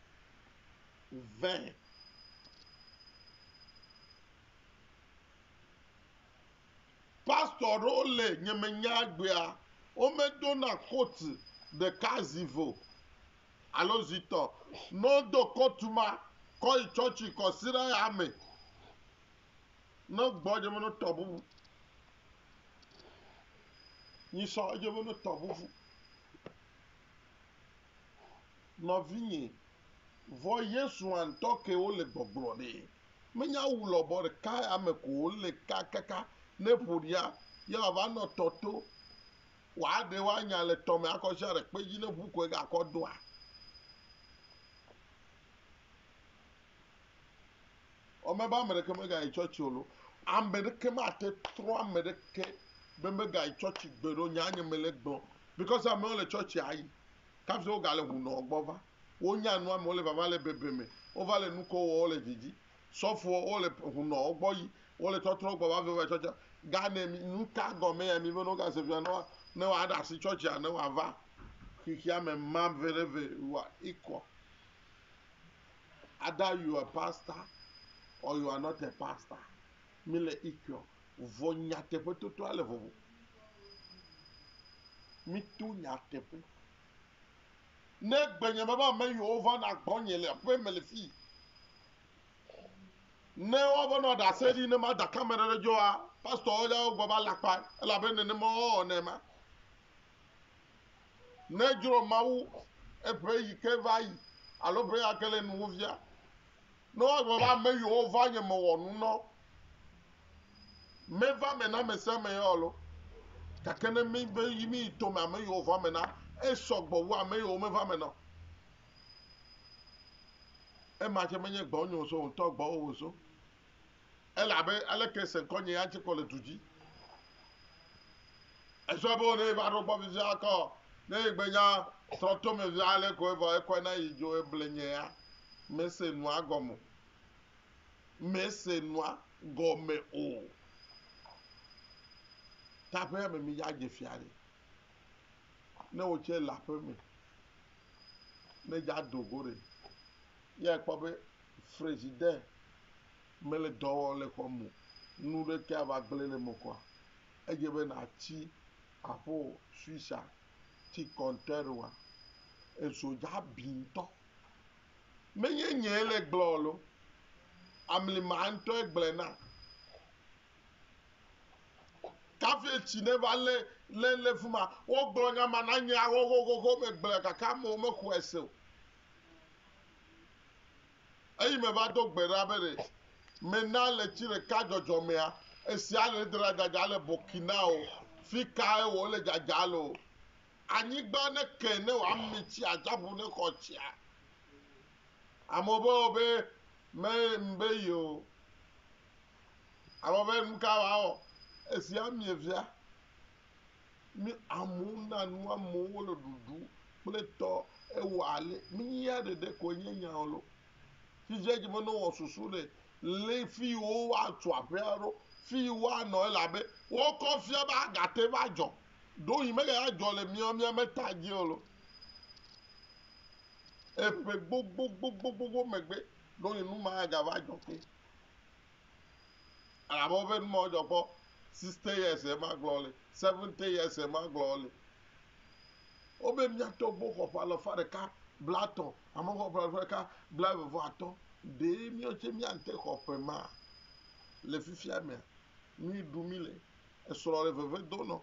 vɛ. Pastor ɖewo le nyemenya egbea, womedona coat ɖeka zi ve o alo zi tɔ. Ne wodo coat ma kɔ yi tsɔtsi kɔ si ɖe ya me, ne gbɔ dze be no tɔ bubu. Nyi sɔ edze be no tɔ bubu. Nɔvinyɛ, vɔ Yesu hã ŋtɔ ke wo le gbɔgblɔ ɖɛ. Me nya wu lɔbɔ ɖeka ya me ko wo le ka kaka ne ƒo ɖia ye wa va nɔ tɔ to wa ɖe wa nya le tɔ me akɔ ʒia ɖe kpe dzi ne ŋu koe ga kɔ doa? Ɔ me be ame ɖeke me ga yi tsɔtsi o lo. Ame ɖeke ma te trɔ ame ɖeke be me ga yi tsɔtsi gbe ɖo nya nye me le gbɔ because amewo le tsɔtsi a yi. Kafe wo gale ŋu nɔ gbɔ va. Wo nya nua me wo le vava le bebe me. Wo va le nuko wɔ wo le dzidzi. Sɔfoɔ wo le ŋu nɔ wo gbɔ yi wo le tɔtrɔ wo gbɔ va veva tsɔtsɔ. Ga nɛ mi nuka gɔme ya mi be nɔ wo ga se via nɔa ne wa ɖa si tsɔtsi a ne wa va xixia me ma ve ɖe ve wa ikɔ. Ada you a pastor or you are not a pastor. Míle ixɔ, vɔ nyateƒe toto ale vovo. Míto nyateƒe. Ne egbe nye be ame yiwo va na gbɔ nye le aƒe me le fii, ne woava nɔ ɖase ɖi ne mada ka me ɖe ɖe dzɔa, pastorwo ya wogba va lakpa, elabe nenema wowɔ ne ma. Ne dzro Mawu eƒe yi ke va yi alo ƒe ya ke le nuwò via, Ne woagblɔ be ame yiwo va nye me wɔ nu nɔ, meva me na amesiame ya alo? Gake ne míbe yi míyi tome ame yiwo va me na, esɔ gbɔ wu ame yiwo meva me nɔ. Ema ke menye gbɔnye wòzo o, ŋutɔ gbɔwò wòzo. Ele abe aleke se ŋkɔ nyee atse kɔ le du dzi. Esɔ be ne eva ɖo gbɔ fifia kɔ, ne egbe nya trɔ to me fifia ale ko evɔ ekɔe na yi dzo eble nyea, mese nua gɔme o. Mese nua gɔme o. Ta aƒea me mi ya dze fia ɖe. Ne wotse le aƒe me, ne dza do go ɖe, ya ekpɔ be frezidɛ Mele dɔ wɔm le xɔ me o. Nu ɖekee ava gblẽ le eme kɔa, edze be nàtsi aƒo Suisse-a ti kɔntɛrua. Ezo dza abi ŋutɔ. Menye nyee le gblɔ o loo, amlima ŋutɔe gblɔe na. Kafi etsi ne va lé lé lé fi ma. Wogblɔ nya ma na nye ahohohoho megblɔe gake amewo mexɔe se o. Eyi meva do gbe ɖa be ɖe mena le tsi ɖeka dzɔdzɔ mea, esia le dra dzadza le Burkina o, fi kae wò le dzadza le o. Anyigba ne ke ne wòa mi tsi atsiaƒu ne xɔ tsia. Amewo be o be me mbe yi o. Amewo be nuka wòa wɔ? Esia mie fia. Ne amewo na nu amewo le ɖuɖu kple tɔ ewɔ ale minyia ɖeɖe ko enye nya lo. Fifia dze be ne wɔ susu ɖe le fi woatu aƒe aɖo fi woanɔ elabe wokɔ fia be agate va dzɔ. Ɖo yi mega ya dzɔ le mia mia me ta dzi lo. Eƒe gbogbogbogbogbogbo megbe ɖo yi nu ma ga va dzɔ ke. Amewo ƒe nu ma wo dzɔ kpɔ sixty years ye ma gblɔ le seventy years ye ma gblɔ le. Wo be mia tɔ gbɔ xɔ ƒe alɔfa ɖeka bla tɔ ame xɔ ƒe alɔfa ɖeka bla eve vɔ atɔ ɖe mia tse mia nte xɔ ƒe ma le fifia mea nu yi ɖu mi le esrɔ le veve do nɔ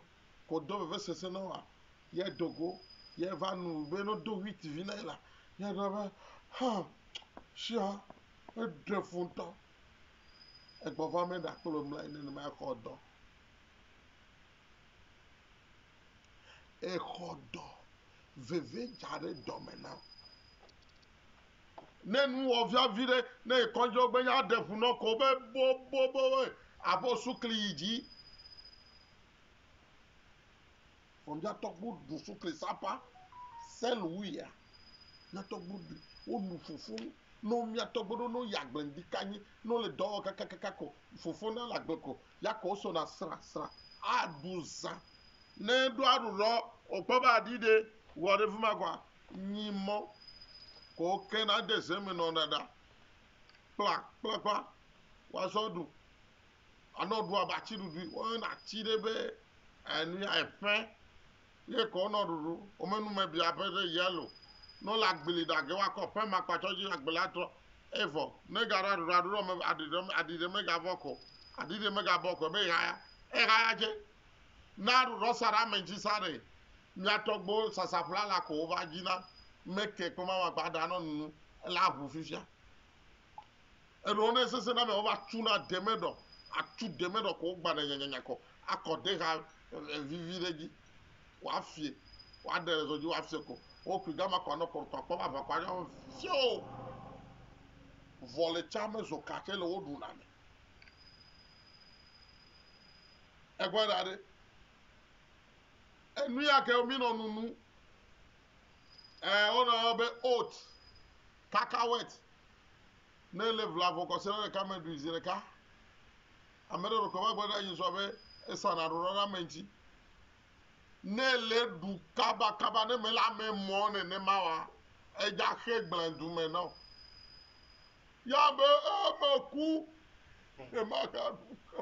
ko do veve sese nɔ wa ye dogo ye va nu be no do wheat vi na yi la ye ɖɔ be ha shiɔ. Eɖe fu ŋutɔ. Egbɔ va me ɖa kple wò mlɔe nenema exɔ dɔ. Exɔ dɔ. Veve dza ɖe dɔme na wò. Ne nu wɔ via vi ɖe, ne ekɔdzi gbe nya ɖe fu nɔ ko be boboboboe abo sukli yi dzi. Vɔ mìatɔgbu ɖu sukli sapa sɛlu wuia. Mìatɔgbu ɖu wo nu fofo nu. Nɔ mìatɔgbu ɖo nɔ yagble ŋdi kanyi nɔ le dɔwɔ kakakaka ko fofo nɔ le agble ko yakɔ wo so na sra sra. Aɖu zã. Nɛ ɖo aɖu lɔ wo kpɔ be aɖi ɖe wɔ ɖe fima kɔa nyi mɔ ko wo ke na de ze me nɔ ɖaɖa kpla kplakpla wa zɔ ɖu. Anɔ ɖu abe atsi ɖuɖui. Wo yɔna atsi ɖe be enuya eƒe ye ke wonɔ ɖuɖu. Wo me nume bia ƒe ɖe yɛlo. Ne wole agbli ɖa ge woakɔ ƒe ma kpa tsɔ dzi agble la trɔ eye vɔ. Ne ga ɖa ɖuɖa ɖuɖɔ me aɖi ɖe aɖi ɖe mega vɔ ko aɖi ɖe mega bɔ ko be ehaya ehaya dze. Na ɖuɖɔ sa ɖe ame ŋtsi sa ɖe. Mia tɔgbe wo sasa ƒlala ko wo va dzi na. Meke kpɔma ma gba ɖa nɔ nunu ela ʋu fifia. Eɖewo ne sese na me wo va tu na de me ɖɔ, atu de me ɖɔ ko wo gba ne nyanyanya kɔ akɔ de ha vivi ɖe dzi. Ko afie, ko aɖe le zɔ dzi wo afie ko. Wo kui gama ko anɔ kɔrɔtɔ akpɔ va va ko anya fio. Vɔ le tsa me zɔ ka tse le wo ɖu na me. Egbɔ ɖa ɖe. Enu ya ke mi nɔ nunu. Eh, wo nɔ be oat. Kakawet, Ne èle ʋla vɔ kɔsiɖa ɖeka me ɖui zi ɖeka, ame ɖe ɖekɔ va gblɔ na Yesu be esa naɖo ɖa ɖe ame ŋuti. Ne èle ɖu kabakaba ne mele ame mɔ nenema oa, edza xe gblẽdu me na wò. Ya be, Ee, meku, ne magaɖu o.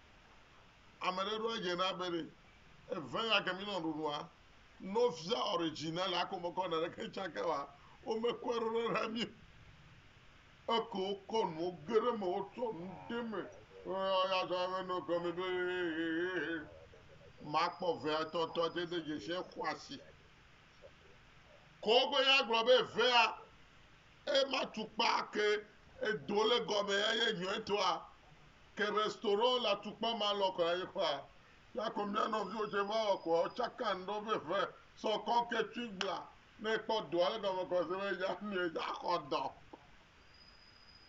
Ame ɖe ɖo adze na be ɖe eve ya ke mi nɔ ɖuɖua no fia ɔre dzi na le ako mɔkɔ na ɖe ke tsa ke wa o me kɔ ɖo ɖe ɖa mi eke o kɔ nu o ge ɖe me o tɔ nu de me o ya ya tɔ me no kɔ me be ma kpɔ ve ya tɔ tɔ te de je se kɔ asi kɔ gbe ya gblɔ be ve ya Eye matukpa ke edo le gɔme eye nyɔɛtɔa ke be storo le atukpa ma lɔ kɔla ye kɔa la ko mia nɔviwo tse va wɔ koa otsakan ɖɔ be ƒe sɔ kɔ ke tsui gbla ne ekpɔ doa le gɔme kɔ se be ya mia ya xɔ dɔ.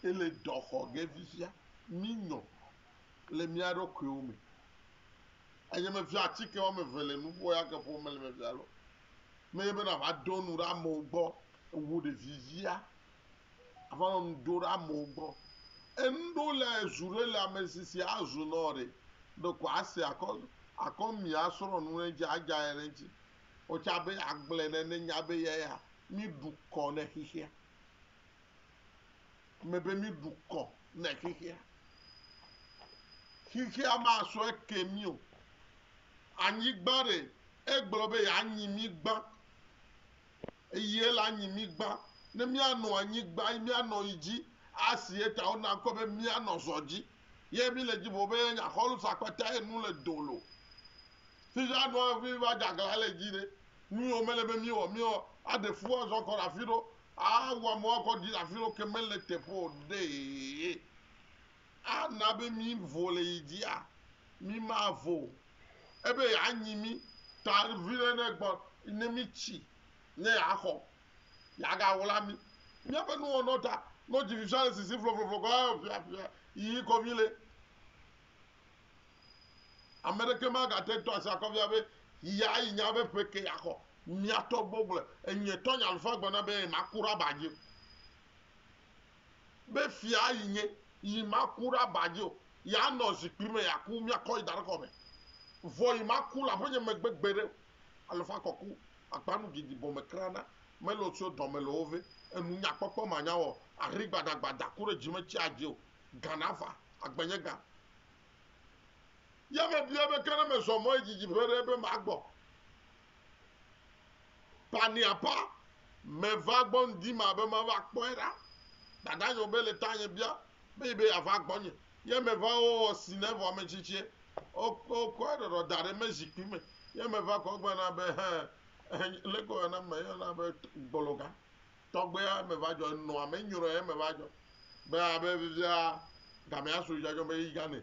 Ele dɔ xɔ ge fifia mi nyɔ le mia ɖokuiwo me. Eye me fia atsike wɔ me ve le nuƒo ya ke ƒo me le me fia lɔ Menye be nàva ɖo nu ɖe amewo gbɔ wu ɖevivia ava nɔ nu ɖo ɖe amewo gbɔ. Enu ɖewo le zu ɖe le ame si si azu nɔ ɖe ɖeko ase akɔ akɔ mì asrɔ̃ nu ɖe eŋuti adze anyi ɖe eŋuti. Wò tsa be yeagblɔe ne nenya be eyae ya míɖu kɔ ne xexea. Eme be míɖu kɔ ne xexea. Xexea masɔ eke mí o. Anyigba ɖe Egblɔ be yeanyi mí gbã. Eye ele anyi mí gbã. Ne míanɔ anyi gbã yi míanɔ yi dzi asi eta wona ŋkɔe be míanɔ zɔ dzi. Ye mí le dzi ƒo be yenya xɔlu sa kpata ye nu le do lo. Fifia nua ŋfi mi va dza gla le dzi ɖe nu yiwo mele be míwɔ mí ɔ aɖe fu azɔ kɔ ɖe afi ɖo a wu amewo akɔ ɖi le afi ɖo ke mele teƒe o ɖee. Ana be mí vo le yi dzia? Mí ma vo o. Ebe ya nyi mí ta viɖe ɖe gbɔ ne mí tsi ne ya xɔ. Ya ga wla mí. Mía ƒe nu wɔnɔ ta nɔ dzi fifia le sisi flɔflɔflɔ kɔ eo fia fia yiyi kɔ mí le. Ameɖeke ma ga te tɔ asi akɔ fia be yia yi nya be ƒe ke ya xɔ. Mía tɔ gbɔgblɔe. Enyuietɔ nye alufa gblɔ na be ye ma ku ɖe aba dzi o. be fia yi nye, yi maku ɖe aba dzi o, yi anɔ zikpui me, yi aku, miakɔ yi da ɖe kɔ me, vɔ yi maku le aƒenye megbe gbeɖe o. Alɔfa kɔku akpa nu didi bɔ me kra na mele o tso dɔ me le wo ve, enu nya kpɔkpɔ ma nya wɔ ahri gbada gbada ku ɖe dzi me tsi adzi o, gan ava, agbenye gan. Ye me biɔe be ke ne me zɔ mɔ yi didi ƒe ɖe be ma gbɔ. Paniapa meva gbɔ ŋdi ma be mava kpɔe ɖa. Dada nyɔ be le tanye bia be yi be yeava gbɔnye. Ye meva wowɔ sine vɔ ame tsitsie. Wokɔ eɖɔɖɔ da ɖe me zikpui me. Ye meva kɔ gbe na be hẽ, leke wòyɔna me yɔna be gbologa. Tɔgbea meva dzɔ, enɔa me nyrɔe ye meva dzɔ. Be abe fifia gamea su dzadzɔ be yi gane.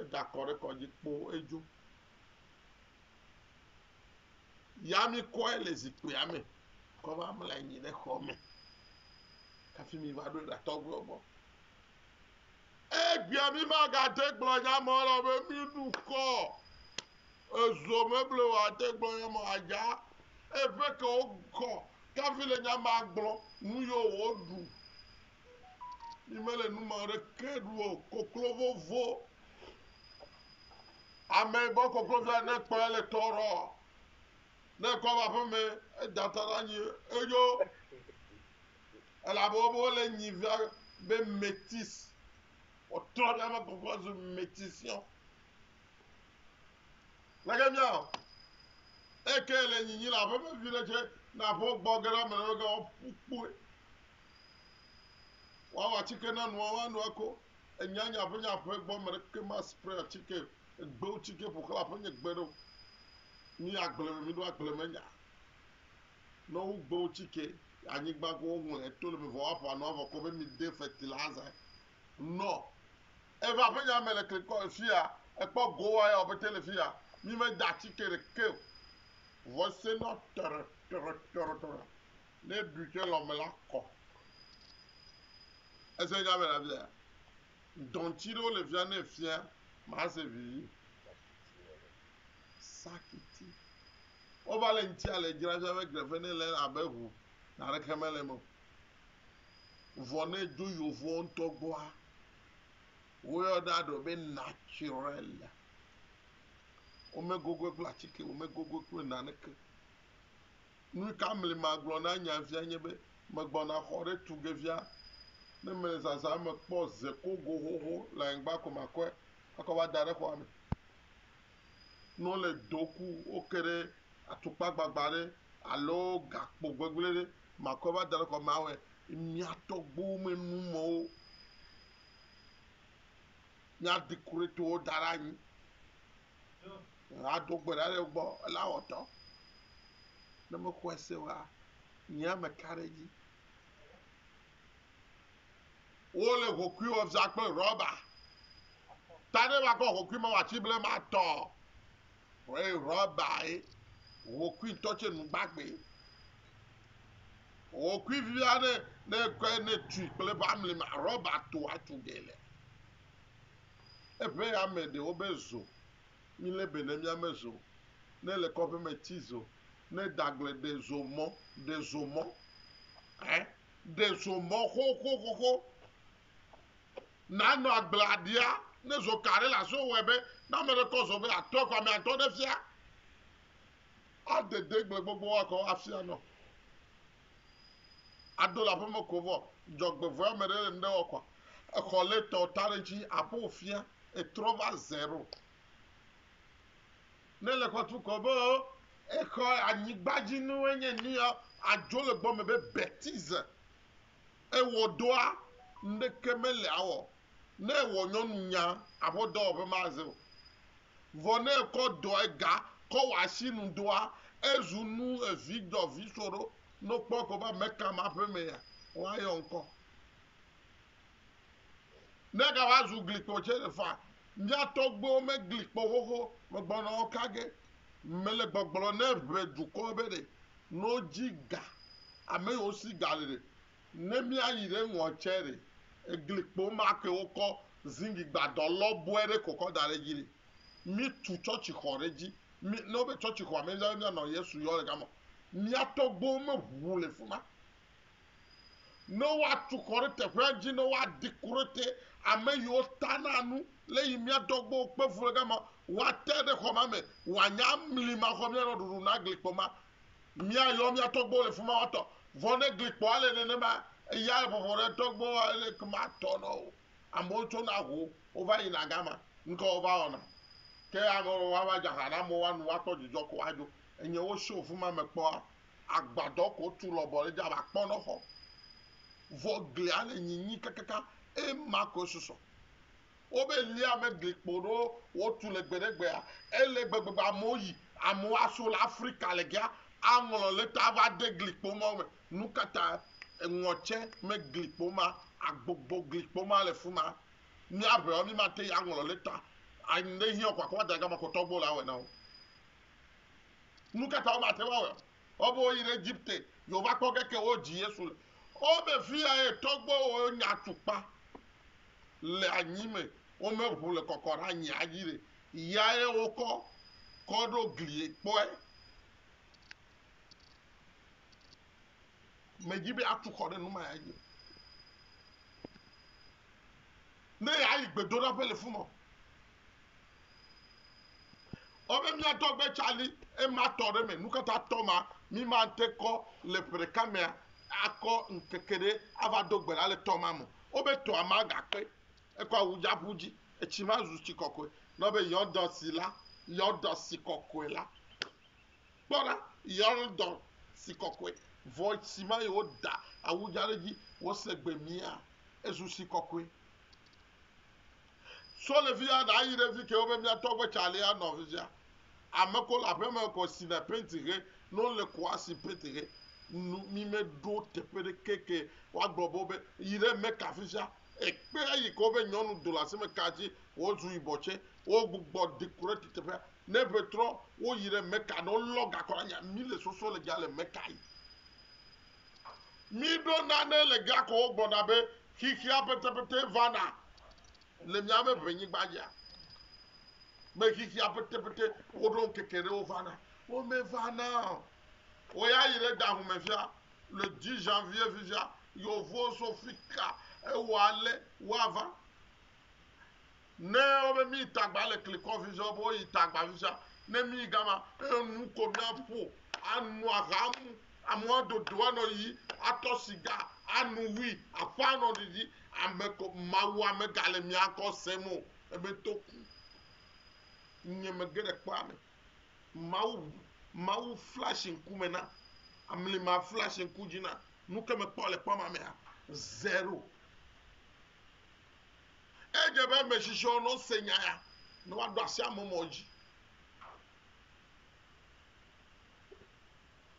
Eda kɔ ɖe kɔdzi kpoo edzo. Ya mi kɔe le zikpuia me. Kɔ va mla anyi ɖe xɔ me. Hafi mi va ɖo ɖa tɔgbuiwo gbɔ. Egbea mi magate gblɔ nya mɔ lɔ be mi nu kɔ. Ezo meble o ate gblɔ nya mɔ adza. Eƒe ke wo kɔ. Kafi le nya ma gblɔ nu yo wo ɖu. Yi mele nu ma ɖe ke ɖu o. Koklo vovo. Ame yi gbɔ koklo via ne kpɔ ele tɔ rɔ. Ne kɔ va ƒe me eda ta la nyi eyo. Elabe wo bo le nyi via be metis. O trɔ via me koklo zu metis yo. Lege mia o. Eke le nyi nyi la ƒe me vi ɖe che na ƒo gbɔ gera me ne ga o pukpue. Woawɔ atike na nua, woano ako. Ènya nye aƒenye aƒe gbɔ, ame aɖeke ma spray atike, egbewo tsike ƒo xlã aƒenye gbe ɖe o. Mí agble me, mí ɖo agble me nya. Ne wogbe wo tsike anyigba ko woŋlɔe to le me vɔ woaƒo anua vɔ kɔ be mi de fertilizer. Nɔ eva aƒenya me le klikɔ le fia, ekpɔ gowa ya wòbete le fia, mí meda atike ɖeke o. Vɔ ese nɔ tɔrɔ tɔrɔ tɔrɔ tɔrɔ. Ne eɖui ke lɔ me la kɔ. Ese nya be ɖavia, dɔnti ɖewo le fia ne fia mase vivi. Sakiti. Wova le ŋutia le dzra fia be grefe ne le abe ŋu naneke mele me o. Vɔ ne dzo yovoɔ ŋutɔ gbɔa, woyɔ ɖa ɖo be naturel. Womegogoe kple atike, womegogoe kple naneke. Nu ka mli magblɔ na nya via nye be megbɔna xɔ ɖe tu ge via ne mele zazã me kpɔ ze kogo xoxo le anyigba ko makɔe akɔ va da ɖe xɔa me. Ne wole do ku woke ɖe atukpa gbagba ɖe alo gakpo gbegblẽ ɖe makɔe va da ɖe xɔa me awɔe. Mia tɔgbuiwo me numewo mia dekoretiwo da ɖe anyi. Ado gbe ɖa ɖe wo gbɔ ela wɔ dɔ. Ne mexɔe se oa, nye ame ka ɖe edzi. Wole hokui wɔ za kple rɔba. Ta ne makɔ hokui ma wati ble ma tɔ. Wɔe rɔba ye. Hokui tɔ tse nu gbagbe. Hokui via ne ne kɔe ne tui kple ba mli ma rɔba to atu gele. Eŋe ya me ɖe wobe zo, mi le be ne mia me zo, ne le kɔƒe me ti zo, ne dagble ɖe zo mɔ, ɖe zo mɔ, eh, ɖe zo mɔ xoxoxoxo, na nɔ agblea ɖia, ne zo ka ɖe la so wɔe be, ne ame ɖe kɔ zo be atɔ kɔ ame atɔ ɖe fia, adede gble gbogbo wa kɔ afia nɔ. Aɖo le aƒeme ko vɔ, dzɔgbevɔɛ ame ɖe le ŋɖe wɔ kɔa, exɔ lé tɔ ta ɖe ŋtsi aƒo fiã etrɔ va zero. Ne le xɔ tu kɔ be o, exɔ anyigbadzi nuwo nye nuyɔ, adzo le gbɔ me be betize. Ewɔ ɖoa, ŋɖeke mele awɔ. Ne ewɔ nyɔnu nya, aƒɔ dɔwɔƒe maze o. Vɔ ne ekɔ dɔ ega kɔ wɔ asi nu doa, ezu nu evi dɔ vi so ɖo. Ne wokpɔe ko be ameka ma ƒe me ya, woayɔ ŋkɔ. Negava zu glikpo dze fa. Mía tɔgbuiwo megli kpɔ xoxo megbɔna wo kage. Mele gbɔgblɔ ne ʋe dukɔ be ɖe no dzi ga ame yiwo si ga le ɖe. Ne mía yi ɖe ŋɔ tse ɖe egli kpo ma ke wo kɔ zingi gbadɔ lɔbɔe ɖe ko kɔ da ɖe dzi ɖe. Mí tu tsɔtsi xɔ ɖe dzi. Mí ne wo be tsɔtsi xɔa me mía be mía nɔ Yesu yɔ ɖe gama. Mía tɔgbuiwo me ʋu le fima. Ne woatu xɔ ɖe teƒea dzi, ne woadi ku ɖe te, ame yiwo tana nu, lé yi mía dɔgbewo kpe fu ɖe gama, woate ɖe xɔ ma me, woanya amli ma xɔ míanɔ ɖuɖu na glikpɔ ma. Míayɔ mía tɔgbewo le fi ma woatɔ. Vɔ ne glikpɔa le nenema, eya le bɔbɔ ɖe tɔgbewoa, ele ke matɔ na wo. Amewo tsona ho, wova yina gama, nu ka wova wɔna? Ke ame aɖewo ava dze aha na amewo woanu, woakpɔ dzidzɔ ko adzo. Enye wosio fi ma me kpɔa, Agbadɔ ko tu lɔbɔ le dzi abe akpɔnɔxɔ, vɔ glia le nyinyi kakaka, eye ma koe susɔ. Wobe lia megli kpo ɖo wotu le gbe ɖe gbea, ele gbegbe be amewo yi, amewo aso le Afrika le gea aŋlɔ leta ava de gli kpo mawo me. Nukatae? Eŋɔ tse megli kpo ma, agbogbo gli kpo ma le fima. Mía ʋeɔ, mi mate yi aŋlɔ leta, ayi ŋɖe hiɔ ko akɔva da ɖe gama ko tɔgbuiwo la awɔe na wo. Nu ka ta womate ŋu awɔe o? Woawo be woyi ɖe Egipte, yewova kpɔ ge ke wodzi Yesu le. Wo be fiyae tɔgbuiwo nya atukpa le anyi me, womeʋu le kɔkɔ ɖe anyia dzi ɖe, yae wokɔ kɔ ɖo glie kpɔe. Medzi be atu xɔ ɖe nu ma ya dzi o. Ne yeayi gbedoɖaƒe le fuma o. Ɔbe mía tɔgbe tsali ema tɔ ɖe me nukata tɔ ma mi ma ŋte kɔ le ƒe ɖeka mea akɔ ŋkeke ɖe ava do gbe la le tɔ ma mo. Ɔbe tɔa ma ga kpe ekɔ awu dza ƒu dzi etsi ma zu tsi kɔkɔe na ɔbe yɔdɔ si la yɔdɔ si kɔkɔe la. Kpɔ ɖa yɔdɔ si kɔkɔe vɔ etsi ma yi wo da awu dza ɖe dzi wo se gbe mia ezu si kɔkɔe. Sɔ le fiya ɖa yi ɖe fike wo be mia tɔgbe cali a nɔ fisia. Ame ko le aƒe me kɔ si na penti he no le ko a si penti he nu mi me ɖo teƒe ɖe ke ke wa gblɔ bo be yi ɖe me ka fisia. Ekpe a yi ko be nyɔnu do le asi me ka ji wo zu yi bɔ tse wo gbugbɔ di ku ɖe teƒe a. Ne ƒe trɔ wo yi ɖe me ka no lɔ gakɔ la nya mi le sɔsɔ le ja le me ka yi. Miɖo nane le Geakɔwo gbɔ ɖa be xexea petepete vana le miaƒe ʋenyigba dzia? Be xexea petepete woɖo ŋkeke ɖe wo vana? Womevana o. Wòyi ayi ɖe da ŋu me fia, le 10 janvier fifia, yewovo so fika ewɔ ale woava. Ne wobe mi tagba le klikɔ vizɔ be woyi tagba vizɔ ne mi gama enu ko mia ƒo anu aha mu amua dodo anɔ yi atɔ siga anu hui aƒe anɔ ɖiɖi ame ko mawu ame gale mia kɔ se mo ebe to ku nye me geɖe kpɔ ame mawu mawu flash ŋku me na amli ma flash ŋku dzi na nu ke me kpɔ le kpɔ ma mea zero Edze be ame si tsɔ nɔ se nya ya ne woaɖo asi ame mɔ dzi.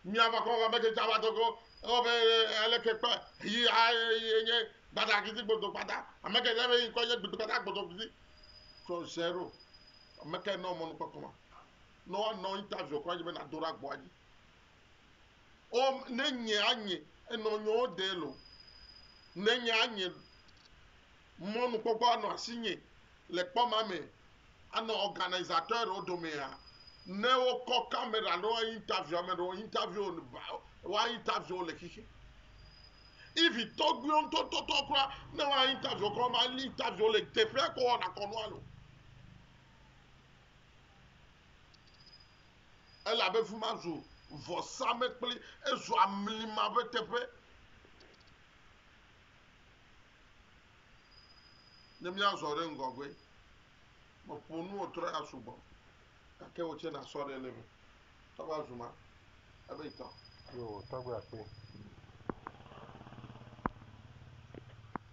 Miava kɔ va mete tava tɔgɔ ewɔ be ele ke kpa yi a ye nye gbada kiti gbodo gbada ame ke debe yi kɔ nye gbodo gbada gbodo kiti tɔ zero ame ke nɔ mɔnu kpɔkpɔ ma nɔ nɔ interview kɔ dzi be na do ra gbɔ dzi Ɔ, ne nye anye enɔ nyɔwo de lɔ, ne nye anye mɔnukpɔkpɔ anɔ asi nye le kpɔ ma me anɔ organisatɔɛ ɖewo domea, ne wo kɔ kamera ɖewo a interview ame ɖewo, interview wo ba, wa interview wo le xixi. Even tɔgbuiwo ŋutɔ tɔtɔ kura, ne wa interview wo kura ma li interview wo le teƒea kɔ wɔna kɔnua lo. Elabe fi ma zu vɔsamlekpli, ezu amlima ƒe teƒe. Ne míazɔ ɖe ŋgɔgbe, meƒo nu wò trɔ ya sugbɔ, gake wò tsɛ nàsɔ ɖe ele me. Tɔgbe azu ma, ebe tɔ. Yoo, tɔgbe akpe.